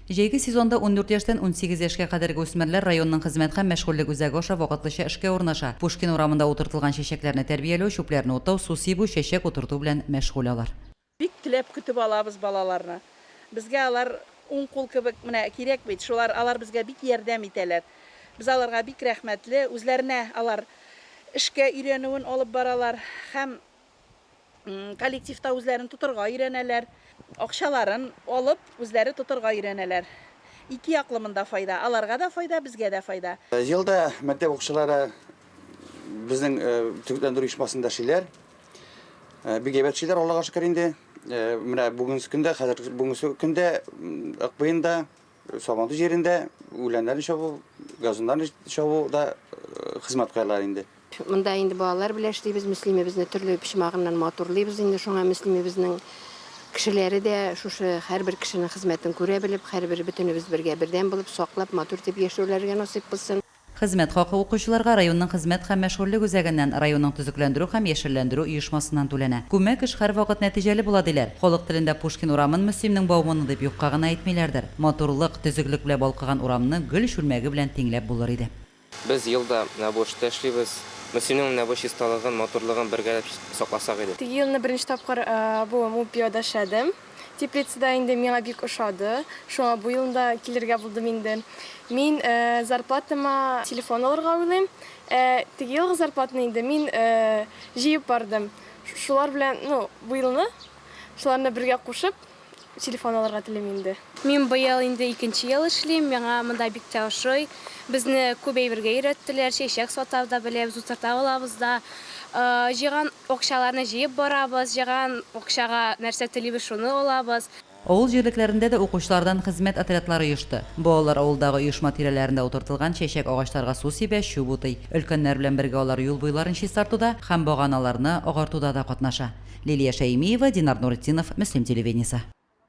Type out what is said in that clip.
Җәйге сезонда ундүрт яшьтән унсигез яшькә кадәрге үсмерләр районның хезмәт һәм мәшгульлек үзәге аша вакытлыча эшкә урнаша, Пушкин урамында утыртылган чәчәкләрне тәрбияләү, чүпләрне утау, су сибү, чәчәк утырту белән мәшгуль алар. Бик теләп көтеп алабыз балаларны. Безгә алар уң кул кебек, менә кирәк бит, шулар, алар безгә бик ярдәм итәләр. Без аларга бик рәхмәтле, үзләренә алар эшкә өйрәнүен алып баралар һәм. коллективта үзләрен тотырга өйрәнәләр. Акчаларын алып, үзләре тотырга өйрәнәләр. Ике яклы монда файда, аларга да файда, безгә дә файда. Елда мәктәп укучылары безнең төзекләндерү оешмасында эшлиләр. Бик әйбәт эшлиләр, Аллага шөкер инде. Менә бүгенге көндә, хәзер бүгенге көндә КПИнда Сабантуй җирендә үләннәрне чабу, газоннарны чабу да хезмәт кылалар инде. Монда инде балалар белән эшлибез, мөслимебезне төрле почмагыннан матурлыйбыз инде, шуңа мөслимебезнең кешеләре дә шушы һәрбер кешенең хезмәтен күрә белеп, һәрбер бөтенебез бергә бердәм булып, саклап, матур итеп яшәүләргә насыйп кылсын. Хезмәт хакы укучыларга районның хезмәт һәм мәшгульлек үзәгеннән, районның төзекләндерү һәм яшелләндерү оешмасыннан түләнә. Күмәк эш һәрвакыт нәтиҗәле була, диләр. Халык телендә Пушкин урамын Мөслимнең баумыны дип юкка гына әйтмиләрдер. Матурлык, төзеклек белән балкыган урамны гөл чүлмәге белән тиңләп булыр иде. Без ел да менә бу эштә эшлибез. Мөслимнең менә бу чисталыгын, матурлыгын бергәләп сакласак иде. Теге елны беренче тапкыр бу мул пивада эшләдем. Теплицада инде миңа бик ошады, шуңа бу елны да килергә булдым инде. Мин зарплатама телефон алырга уйлыйм. Ә теге елгы зарплатаны инде мин җыеп бардым. Шулар белән, ну, бу елны шуларны бергә кушып, телефон алырга телим инде. Мин быел инде икенче ел эшлим, миңа монда бик тә ошый. Безне күп әйбергә өйрәттеләр, чәчәк сатарда беләбез, утырта алабыз да. Җыйган Акчаларны җыеп барабыз, җыйган акчага нәрсә телибез, шуны алабыз. Авыл җирлекләрендә дә укучылардан хезмәт отрядлары оешты. Балалар авылдагы оешма тирәләрендә утыртылган чәчәк агачларга су сибә, чүп утый. Өлкәннәр белән бергә алар юл буйларын чистартуда һәм баганаларны агартуда да катнаша. Лилия Шәймиева, Динар Нуретдинов, Мөслим телевидениесе.